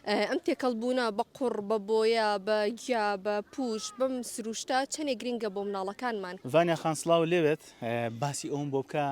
ئەم تێکەڵبوونە بە قوڕ، بە بۆیە، بە گیا، بە پووش، بەم سرووشتە چەندێک گرینگە بۆ مناڵەکانمان؟ ڤانیا خان سڵاو لێبێت، باسی ئەوەم بۆ بکە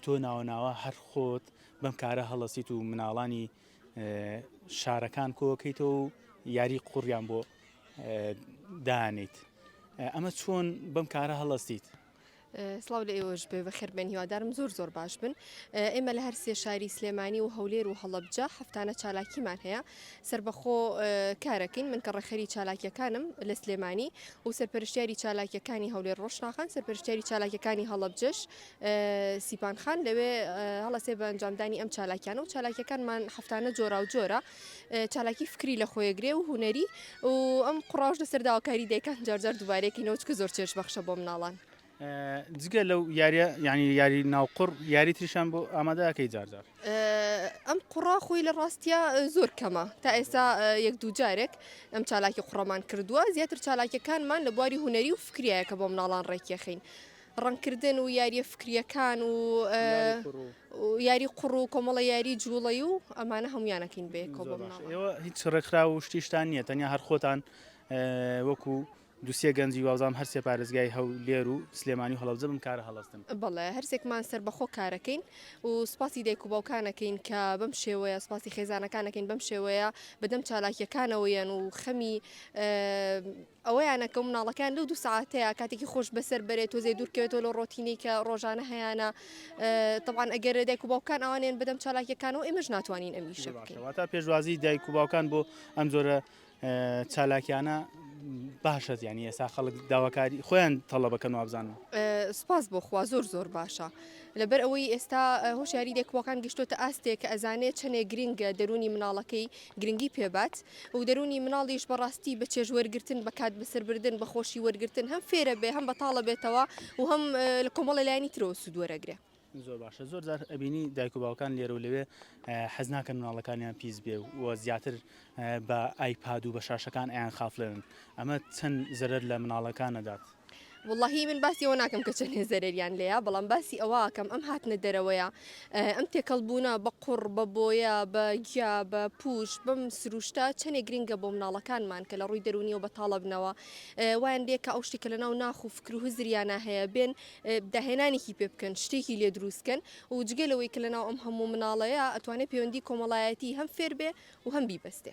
تۆ ناوە ناوە هەر خۆت بەم کارە هەڵەسیت و مناڵانی شارەکان کۆکەیتەوە و یاری قوڕیان بۆ دانیت ئەمە چۆن بەم کارە هەڵەستیت؟ سڵاو لە ئێوەش بێ بەخێربێن هیوادارم زۆر زۆر باش بن ئێمە لە هەرسێ شاری سلێمانی و هەولێر و هەڵبجە هەفتانە چالاکیمان هەیە سربەخۆ کارەکەین من کە ڕێخەری چالاکیەکانم لە سلێمانی و سەرپەرشتیاری چالاکیەکانی هەولێر ڕۆشناخان سەرپەرشتیاری چالاکیەکانی هەڵبجەش سیپان خان لەوێ هەڵەسێ بە ئەنجامدانی ئەم چالاکیان و چالاکیەکانمان هەفتانە جۆرا و جۆرە چالاکی فکری لە خۆیەگرێ و هونەری و ئەم قڕاش لەسەر داواکاری دەکەن جارجار دووبارێکی نەوچکە زۆر چێش بەخشە بۆ مناڵان جگە لەو یاریە ینی یاری ناوقڕ یاری تریشان بۆ ئامادەکەی جارجار ئەم قڕا خۆی لە ڕاستە زۆر کەمە تا ئێستا یەک دوو جارێک ئەم چالاکی قڕەمان کردووە زیاتر چالاکیەکانمان لە بواری هوەری و فکریایە کە بۆ مناڵان ڕێکیەخین ڕەنگکردن و یاریە فکریەکان و یاری قوڕ و کۆمەڵە یاری جوڵی و ئەمانە هەمویانەکەین بێ هیچ ڕێکخرا و شتیشتان نییە تەنیا هەر خۆتان وەکو دوسیە گەنجی وازام هەرسێ پارێزگای هەو لێر و سلێمانی و هەڵەوزە بم کارە هەڵستن بەڵێ هەرسێکمان سەر بەخۆ کارەکەین و سپاسی دایک و باوکانەکەین کە بەم شێوەیە سپاسی خێزانەکانەکەین بەم شێوەیە بەدەم چالاکیەکانەوەیان و خەمی ئەوەیانە کە مناڵەکەیان لەو دوو سەعاتەیە کاتێکی خۆش بەسەر بەرێت تۆزێ دوورکەوێتەوە لە ڕۆتینەی کە ڕۆژانە هەیانە طبعاان ئەگەر دایک و باوکان ئەوانێن بدەم چالاکیەکانەوە ئێمەش ناتوانین ئەمیشە بکەواتە پێشوازی دایک و باوکان بۆ ئەم جۆرە چالاکیانە باشە زیانی ئێستا خەڵک داواکاری خۆیان تەڵە بەکەن وابزانن سپاس بۆ خوا زۆر زۆر باشە لەبەر ئەوەی ئێستا هۆشیاری دەکوەکان گشتۆتە ئاستێک کە ئەزانێت چەنێ گرنگە دەرونی مناڵەکەی گرنگی پێ بات و دەروونی مناڵیش بە ڕاستی بە چێژ وەرگرتن، بە کات بەسەر بردن، بە خۆشی وەرگرتن هەم فێرە بێ، هەم بەتاڵە بێتەوە و هەم لە کۆمەڵە لایەنی ترەوە سوود وەرەگرێ. زۆر باشە زۆر جار ئەبینی دایک و باوکان لێرە و لەوێ حەز ناکەن مناڵەکانیان پیس بێ و زیاتر بە ئایپاد و بە شاشەکان ئەیان خافڵێنن ئەمە چەند زەرەر لە مناڵەکان نەدات. وەڵاهی من باسی ئەوە ناکەم کە چەندێ زەرەریان لێیە بەڵام باسی ئەوە ئەکەم ئەم هاتنە دەرەوەیە ئەم تێکەڵبوونە بە قوڕ بە بۆیە بە گیا بە پوش بەم سروشتە چەندێک گرنگە بۆ مناڵەکانمان کە لە ڕووی دەرونیەوە بە تاڵەبنەوە وایان لێ کە ئەو شتێکە لە ناو ناخ و فکر و هزریانە هەیە بێن داهێنانێکی پێ بکەن شتێکی لێ دروستکەن و جگەلەوەی کە لە ناو ئەم هەموو مناڵەیە ئەتوانێت پەیوەندی کۆمەڵایەتی هەم فێر بێ و هەم بیبەستێ.